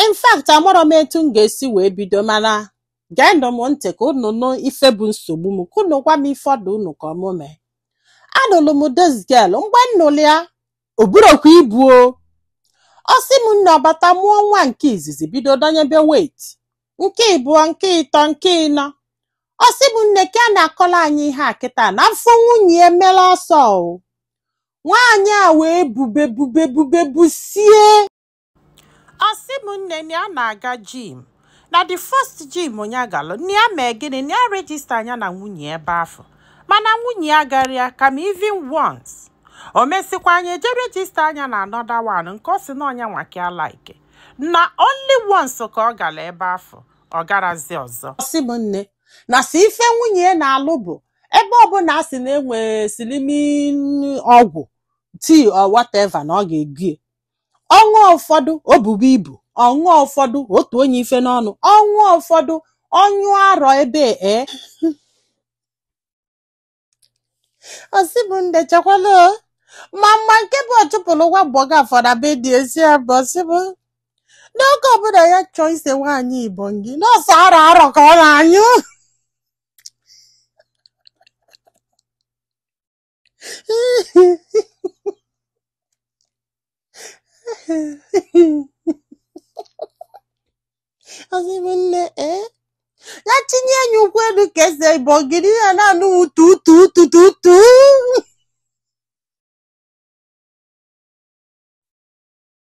in fact amarọ m etu m ga-esi wee bido mana geenụ m ntị ka unu nụ ife bụ nsogbu m ka unu gwa m ife ọ dụ unu ka ọ mụ mee anụlụ m this girl mgbe m nụlụ ya o burokwa ibu o ọ sị m nne ọ bata mụọ nwa nke izizi bido dọnyebe weight nke ịbụọ nke ịtọ nke ịnọ ọ sị m nne ka a na-akọla anyị ihe a kịta na afọ nwunye ya emela ọsọ o nwaanyị a wee bube bube bube busie ọ sị m nne na ya na-aga gym na the first gym nya galụ na ya mee gịnị na ya register nya na nwunye ebe afụ mana nwunye ya garọ ya kama even once o mesịkwa nya eje register nya na another one nke ọ sị na ọ nya nwa ka ya like na only once ka ọ gara ebe afụ ọ garọzi ọzọ ọ sị m nne na sọ ife nwunye ya na-alụ bụ ebe ọbụla a sị na e nwe slimming ọgwụ tea or whatever na ọ ga-ego ya ọ ṅụọ ụfọdụ o bube ibu ọ ṅụọ ụfọdụ otu onye ife n'ọnụ ọ ṅụọ ụfọdụ ọ nyụ arọ ebe e ọ sị m nne chekwala o. ma mma nke bụ ọchụpụrụ nwa agbọghọ ụfọdụ be di ezi a bụ ọ sị m n'oge ọbụla ya chọọ ise nwaanyị igbo ngị na ọ sọ arọ arọ ka ọ na-anyụ ọ sị m nne ee ya chinye nya ụkwụ elu ka e see igbo ogiri ya na-anụ tu tu tu tu tu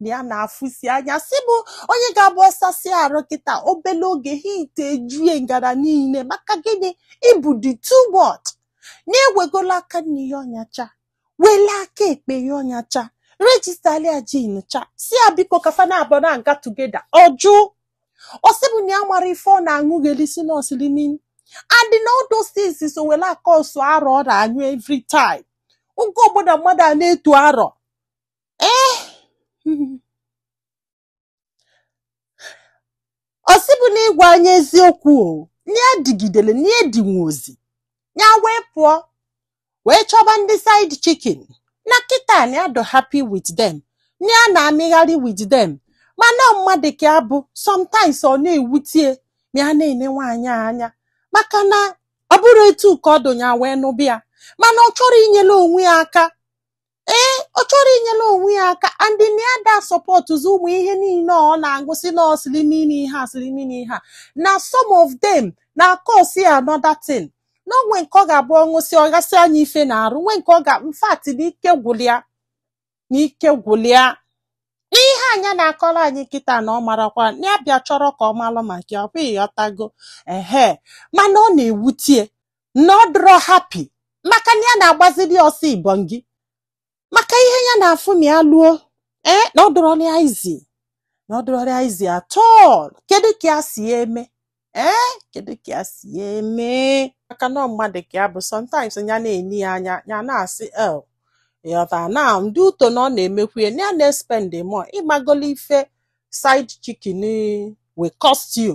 na ya na-afụsi anya sị bụ onye ga-abụ ọ sasịa arụ kịta obele oge heat ejue ngara niile maka gịnị ibu dị too much na-ewegola aka nni yọọ nya cha wele aka ekpe yọọ nya cha registalị ya gym cha sị ya biko ka fa naabụọ na-aga together ọ jụ ọ sị bụ na ya mara ife ọ na-aṅụghelisi na ọ slimming and na all those things so wele a-cause arọ ọ na-anyụ every time oge ọbụla mmadụ a na-etu arọ ee ọ sị bụ na ịgwa anyị eziokwu o nya digidere nya dinwuozi ya wee pụọ wee chọba ndị side chicken na kịta na ya dụ happy with them na ya na-amịgharị with them mana mmadụ ka ya bụ sometimes ọ na-ewute ya ma ya na-ene nwaanyị a anya maka na ọ bụrọ etu a ka ọ dụ nya wee nụba ya mana ọ chọrọ inyere onwe ya aka ee ọ chọrọ inyere onwe ya aka and na ya da sọpọtụzi ụmụ ihe niile ọ na-aṅụsị na ọ slimming ihe a slimming ihe a na some of them na-acause another thing na o nwe nke ọ ga-abụ ọ ṅụsị ọ gasị anya ife n'arụ nwe nke ọ ga in fact na ike gwụlụ ya na ike gwụlụ ya ihe anya na-akọrọ anyị kịta na ọ marakwa na ya bịa chọrọ ka ọ malụ maka ya ọ bụ ịghọtago ehe mana ọ na-ewutie na ọ dịrọ happy maka na ya na-agbaziri ọsọ ibon gị maka ihe ya na-afụ ma ya luo ee na ọ dịrọrọ ya easy na ọ dịrọrọ ya easy at all kedu ka ya si ya eme ee kedu ka ya si ya eme maka na ọ mmadụ ka ya bụ sometimes ya na-ene ya anya ya na-asị el ịghọta na ndị uto na ọ na-emekwu ya na ya na-espend more ị magolu ife side chicken will cost you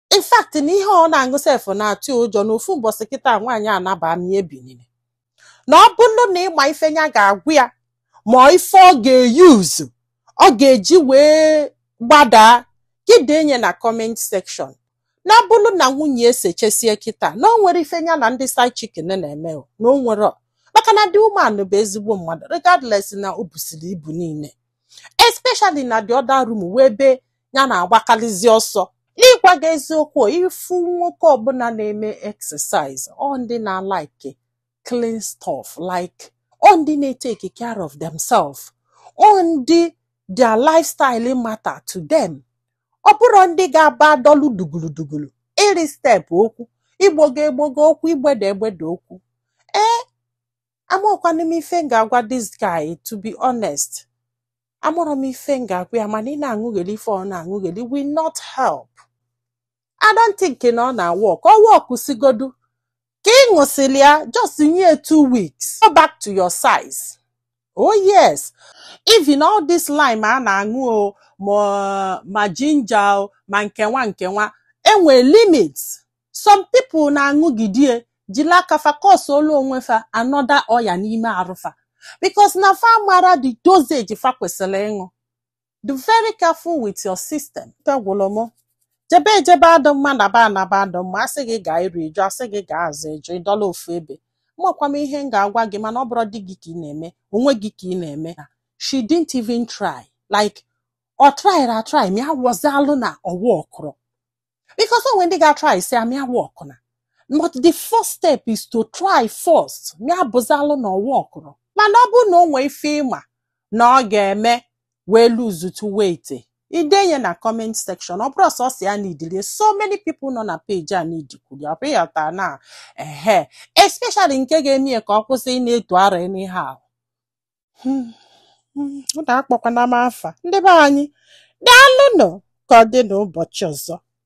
in fact na ihe ọ na-aṅụ sef na-atụ ya ụjọ na ofu mbọsị kịta nwaanyị anaba ma ya ebinine na ọ bụrụ na ị ma ife ya ga-agwa ya ma ife ọ ga-euse ọ ga-eji wee gbadaa gị denye na comment section na ọ bụrụ na nwunye esechesie kịta na o nwere ife ya na ndị side chicken na-eme o, na o nwerọ. maka na the woman bụ ezigbo mmadụ regardless na o busiri ibu niile especially na the other room bụ ebe ya na-agbakalizi ọsọ n'ịgwa gị eziokwu ị fụ nwoke ọbụla na-eme exercise ọ ndị na-alike clean stuff like ọ ndị na-etake care of themselves ọ ndị their lifestyle matter to them ọ bụrọ ndị ga-aba dọlụ duguludugulu ịrị step okwu igbogo egbogo okwu igbede egbede okwu ee amarọkwanụ m ife m ga-agwa this guy to be honest amarọ m ife m ga-agwa ya mana ị na-aṅụgheli ife ọ na-aṅụgheli will not help I don't think na ọ na-awork ọ worksigodu ka ị ṅụsịrị ya just nye two weeks go back to your size oh yes even all this lime a na-aṅụ o ma ginger o ma nkenwa nkenwa enwe limits some people na-aṅụgidie jiri aka fa causeolu onwe fa another ọya n'ime arụ fa because na fa amarọ the dosage fa kwesịrị ịṅụ be very careful with your system ike gwụrụ m jebe ejebe adụ mma naba anaba adụ mma a sị gị gaa iru ị jụ a sị gị gaa azụ ị jụ ị dọlụ ofu ebe amakwa m ihe m ga-agwa gị mana ọ bụrọ di gị ka ị na-eme onwe gị ka ị na-eme she didn't even try like ọ tryịrị atry ma ya wọzalụ na ọ workrọ because o nwe ndị ga-atrysịa ma ya aworkụna but the first step is to try first ma ya bụzalụ na ọ workụrọ mana ọ bụrụ na o nwee ife ị ma na ọ ga-eme wee losetụ weight i denye na comment section ọ bụrọ sọsọ ya needili ya so many people nọ na page a needikwulu ọ bụghị ọta na ehe especially nke ga-eme ya ka ọ kwụsị ịna-eto ara anyhow unu akpọkwana m afa ndị be anyị daalụnụ ka ọ dị n'ụbọchị ọzọ